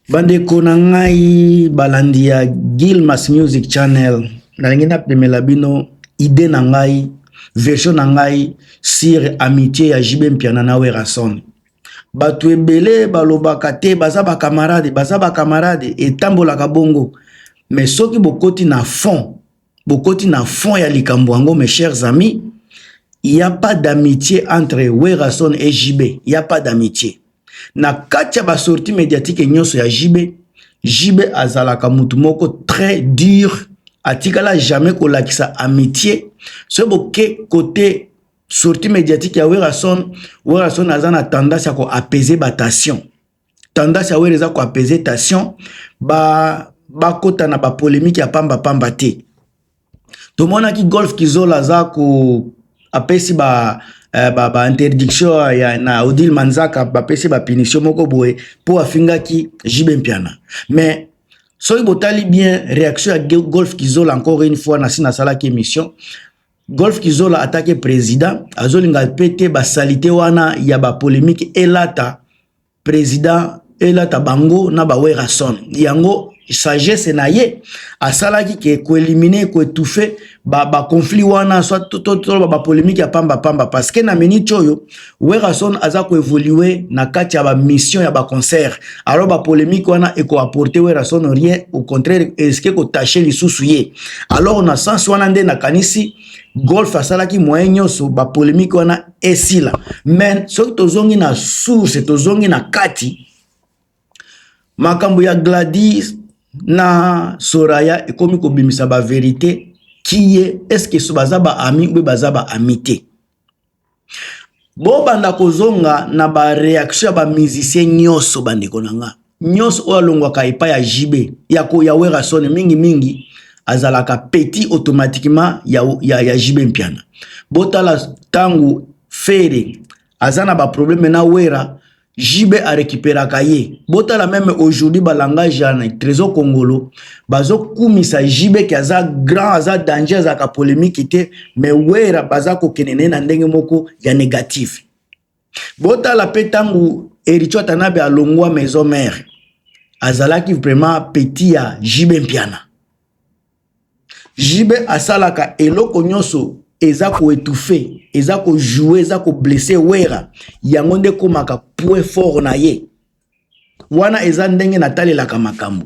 bandeko na ngai balandi ya gilmas music channel nalingi napemela bino ide na ngai version na ngai sur amitié ya jb mpiana na werason bato ebele balobaka te baza bakamarade baza bakamarade etambolaka bongo mais soki bokoti na fond bokoti na fond ya likambo yango mes chers amis il y a pas d'amitié entre Werrason et JB il y a pas d'amitié na kati ya ba sortie médiatique nyonso ya JB JB azalaka mutu moko très dur atikala jamais kolakisa amitié soki boke kote sortie médiatique ya Werrason Werrason aza na tendance ya ko apaiser ba tension tendance ya wera eza ko apaiser tension ba bakota na ba polemique ya pamba pamba te tomonaki golf kizola aza ko apesi ba eh, ba, ba interdiction ya na Odile Manzaka bapesi ba punition moko boye po afingaki JB Mpiana mais soki botali bien réaction ya golf kizola encore une fois nasi nasalaki émission Golf Kizola atake president azolinga pe te ba salite wana ya ba polemique elata president elata bango na ba Werrason yango sagesse na ye asalaki ke ko éliminer ko étouffer ba ba conflit wana soit to to ba polemique ya pamba pamba parce que na minute oyo Werrason aza ko evoluer na kati ya ba mission ya ba concert. Alors ba polemique wana eko apporter Werrason rien, au contraire eske ko tâcher lisusu ye. Alors na sens wana nde na kanisi golf asalaki moyen nyonso ba polemique wana esila. Mais soki tozongi na source, tozongi na kati makambo ya Gladys na Soraya ekomi kobimisa ba verite kiye eske baza ba ami ou baza ba amite. bobanda kozonga na ba reaction ya ba musicien nyonso bandeko na nga nyonso oyo alongwaka epai ya jb ya ko ya werasone mingimingi azalaka petit automatiquement ya, ya, ya jb mpiana botala ntango fere aza na baprobleme na wera JB a recuperaka ye. Botala meme aujourd'hui ba langage ya Trésor Kongolo bazo kumisa JB ki aza grand, aza danger, aza ka polemique te, mais Wera baza ko kene na ndenge moko ya négatif. Botala pe tangu Ericho Tanabe alongwa maison mère. Azalaki vraiment petit ya JB Mpiana. JB asalaka eloko nyonso eza ko étouffer, eza ko jouer, eza ko blesser Werra. Yango nde ekomaka point fort na ye. Wana eza ndenge natalelaka makambo.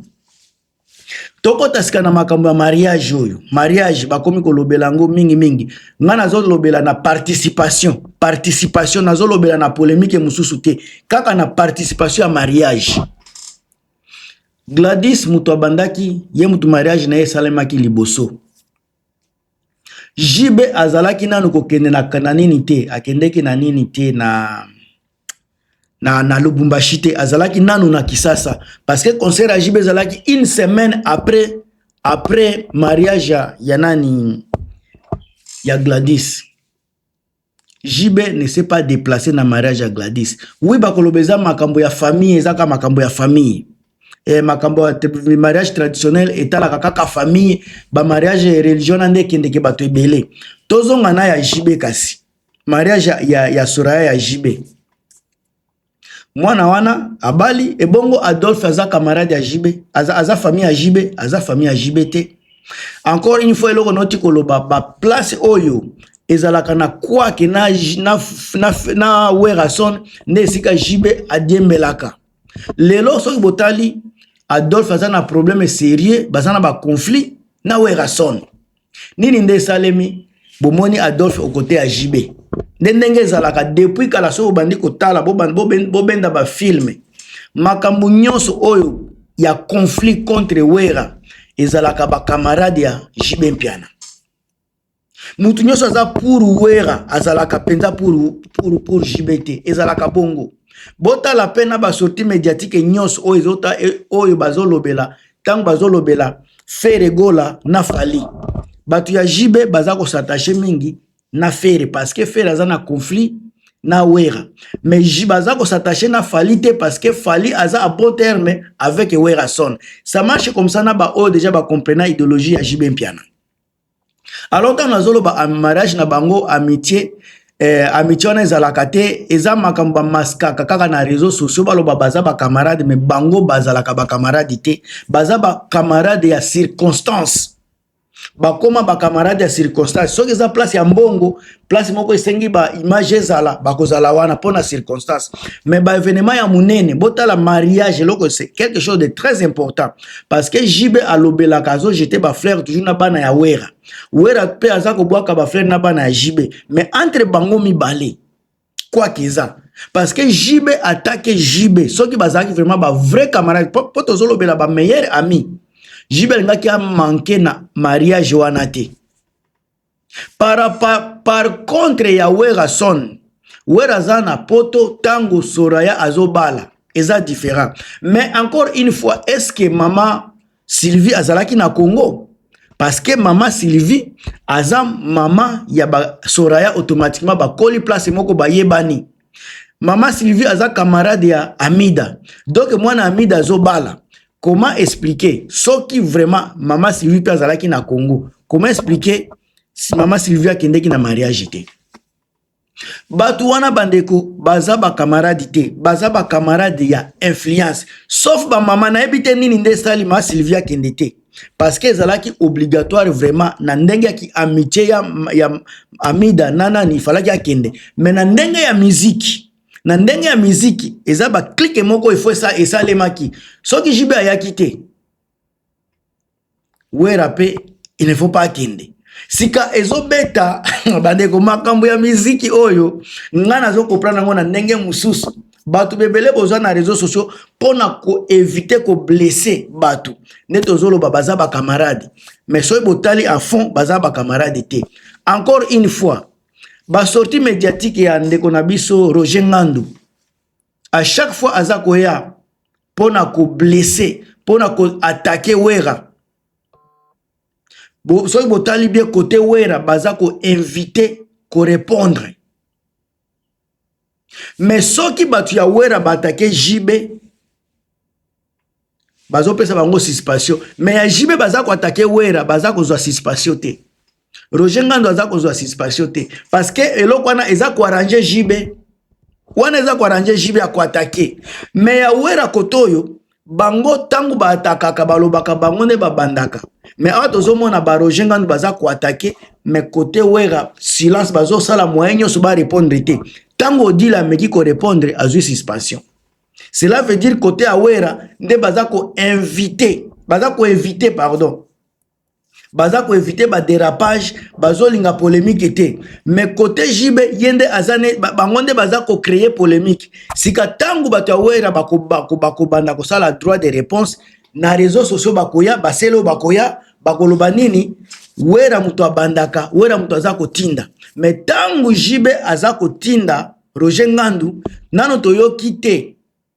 Tokota sika na makambo ya mariage oyo. Mariage bakomi kolobela yango mingi mingi. Nga nazolobela na participation. Participation nazolobela na polemique mosusu te. Kaka na participation ya mariage. Gladys moto abandaki ye moto mariage na ye esalemaki liboso JB azalaki nanu kokende na, na nini te akendeki na nini te na na, na Lubumbashi te azalaki nanu na Kisasa parce que concert ya JB ezalaki une semaine après après mariage ya nani ya Gladys JB ne s'est pas déplacé na mariage ya Gladys. Oui, bakoloba eza makambo ya famille, eza kaka makambo ya famille. Eh, makambo ya mariage traditionnel etalaka kaka famille, ba mariage ya religion na nde ekendeke bato ebele. Tozonga na ya JB kasi. Mariage ya, ya, ya Soraya ya JB. mwana wana abali ebongo adolphe aza camarade ya jb aza, aza famille ya jb aza famille ya jb te encore une fois eloko noti koloba baplace oyo ezalaka na kwake na, na, na, na werason nde esika jb adiembelaka lelo soki botali adolphe aza na problème sérieux baza na baconflit na werason nini nde esalemi bomoni adolphe okote ya jb nde ndenge ezalaka depuis kala soki obandi kotala bobenda bafilme makambo nyonso oyo ya conflit contre wera ezalaka bakamarade ya jb mpiana motu nyonso aza pour wera azalaka mpenza pour, pour, pour jb te ezalaka bongo botala mpe na basorti médiatike nyonso oyo, e, oyo bazolobela tango bazolobela Ferre Gola na Fally bato ya JB baza ko s'attacher mingi na Ferre parce que Ferre aza na conflit na Wera mais JB aza ko s'attacher na Fally te parce que Fally aza à bon terme avec Werason ça marche comme ça na ba oyo déjà ba comprena idéologie ya JB Mpiana alors ntango nazoloba mariage na bango amitie eh, amitie wana ezalaka te eza makambo bamaskaka kaka na réseau sociaux baloba baza bacamarade me bango bazalaka bacamarade te baza bacamarade ya circonstance bakoma bacamarade ya circonstance soki eza place ya mbongo place moko esengi ba image ezala bakozala wana mpo na circonstance mais ba événement ya monene botala mariage eloko c'est quelque chose de très important parce que jb alobelaka azojete bafleur toujours na bana ya wera wera mpe aza kobwaka bafleur na bana ya jb mais entre bango mibale kwaki eza parce que jb atake jb soki bazalaki vraiment ba vrai camarade mpo tozolobela ba meilleur ami jb alingaki amanke na mariage wana te Para, par, par contre ya Werrason, Werra aza na poto tango Soraya azobala eza different. Mais encore une fois, est-ce que mama Sylvie azalaki na Congo? Parce que mama Sylvie aza mama ya ba Soraya automatiquement bakoli place moko bayebani. Mama Sylvie aza camarade ya Amida. Donc mwana Amida azobala. Comment expliquer soki vraiment mama Sylvie pe azalaki na Congo? Comment expliquer si mama Sylvie akendeki na mariage te? Batu wana bandeko baza ba camarade te, baza ba camarade ya influence. Sauf ba mama nayebi te nini nde sali ma Sylvie akende te. parce que ezalaki obligatoire vraiment na ndenge ya ki amitié ya, ya amida na nani ifalaki akende mais na ndenge ya miziki na ndenge ya miziki eza baklike moko efo esa, esalemaki soki jb ayaki te wera mpe il ne faut pas akende sika ezobeta bandeko makambo ya miziki oyo ngai nazokoprana yango na ndenge mosusu bato bebele boza na réseau sociaux mpo na koevite koblesse bato nde tozoloba baza bacamarade mais soki botali à fond baza bacamarade te encore une fois basortie médiatique ya ndeko na biso roger ngandu à chaque fois aza koya mpo na koblesse mpo na koatake wera Bo, soki botali bien kote wera baza koinvite korepondre mais soki bato ya wera baatake jb bazopesa bango suspension mais ya jb baza koatake wera baza kozwa suspension te roger ngando aza kozwa suspension te parce que eloko wana eza koarrange jb wana eza koarrange jb ya koatake mais ya wera kote oyo bango ntango baatakaka balobaka bango nde babandaka mais awa tozomona baroger ngandu baza koatake mais kote wera silence bazosala moyen nyonso barépondre te ntango odila ameki korépondre azwi suspension cela veut dire kote ya wera nde baza koinvite baza koinvite pardon baza ko éviter ba dérapage bazolinga polemique te mais côté JB ye nde aza ne bango nde baza ko créer polemique sika tangu bato ya wera bakobanda kosala droit de réponse na réseaux sociaux bakoya basele oyo bakoya bakoloba nini wera moto abandaka wera moto aza kotinda mais ntango JB aza kotinda Roger Ngandu nano toyoki te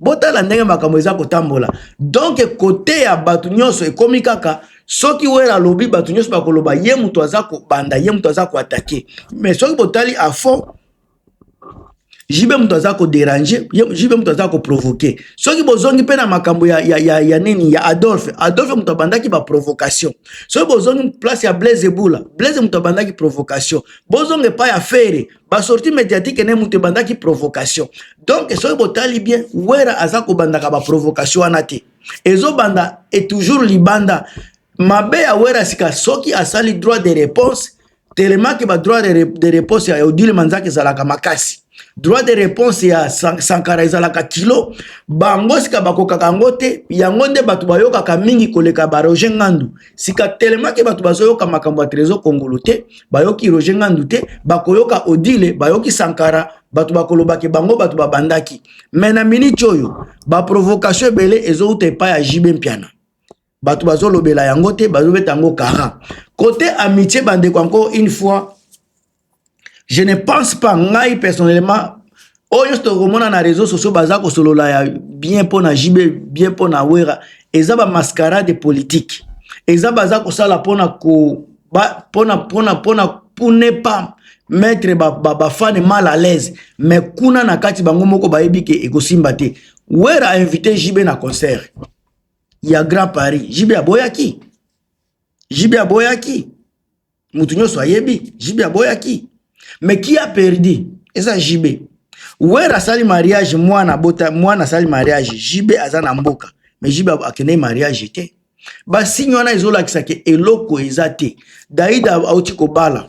botala ndenge makambo eza kotambola donc kote ya bato nyonso ekomi kaka soki wera alobi bato nyonso bakoloba ye moto aza kobanda ye moto aza koatake mais soki botali afond jibe moto aza koderange jibe moto aza koprovoke soki bozongi mpe na makambo ya, ya, ya, ya nini ya adolphe adolphe moto abandaki baprovocation soki bozongi place ya blaise ebula blaise moto abandaki provocation bozonga epai ya fere basorti mediatike ne moto ebandaki provocation donc soki botali bien wera aza kobandaka baprovocation wana te ezobanda e toujours libanda mabe ya wera sika soki asali droit de réponse telemaki badroit de réponse ya odile manzaka ezalaka makasi droit de réponse ya sankara ezalaka kilo bango sika bakokaka yango te yango nde bato bayokaka mingi koleka baroger ngandu sika telemaki bato bazoyoka makambo ya trésor kongolo te bayoki roger ngandu te bakoyoka odile bayoki sankara bato bakolobake bango bato babandaki me na miniti oyo baprovocation ebele ezouta epai ya jibe mpiana bato bazolobela yango te bazobeta yango kara kote amitie bandeko yango une fois je ne pense pas ngai personnellement oyo nyonso tokomona na réseau sociaux baza kosolola ya bien mpo na jb bien mpo na wera eza ba mascarade politique eza baza kosala mpona ko mpona mpona mpona pour ne pas mettre bafane ba, ba mal à l'aise mais kuna na kati bango moko bayebi ke ekosimba te wera ainvite jb na concert ya grand paris jb aboyaki jb aboyaki mutu nyonso ayebi JB aboyaki mais qui a perdu eza JB Wera asali mariage mwana bota mwana asali mariage JB aza na mboka mais JB akendeki mariage te basigne wana ezolakisa ke eloko eza te Daida auti kobala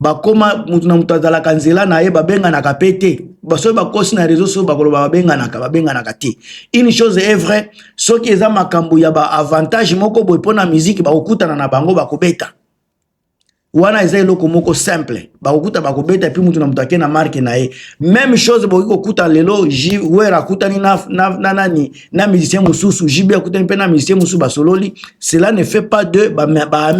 bakoma moto na moto azalaka nzela na ye babenganaka mpe te basoki bakosi na réseau soki bakoloba babenganaka babenganaka te une chose est vrai soki eza makambo ya baavantage moko boye mpo na miziki bakokutana na bango bakobeta wana eza eloko moko simple bakokuta bakobeta epuis moto na moto ake na marke na ye meme chose bokoki kokuta lelo wer akutani na, na, na nani na musicien mosusu jb akutani mpe na musicien mosusu basololi cela ne fait pas de baami ba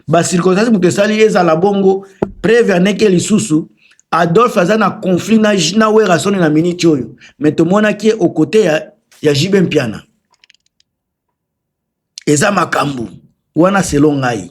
bacirconstance moto esali ezala bongo preve aneke lisusu adolphe aza na conflit na, na werasoni na miniti oyo me tomonaki ye okote ya, ya jibe mpiana eza makambo wana selo ngai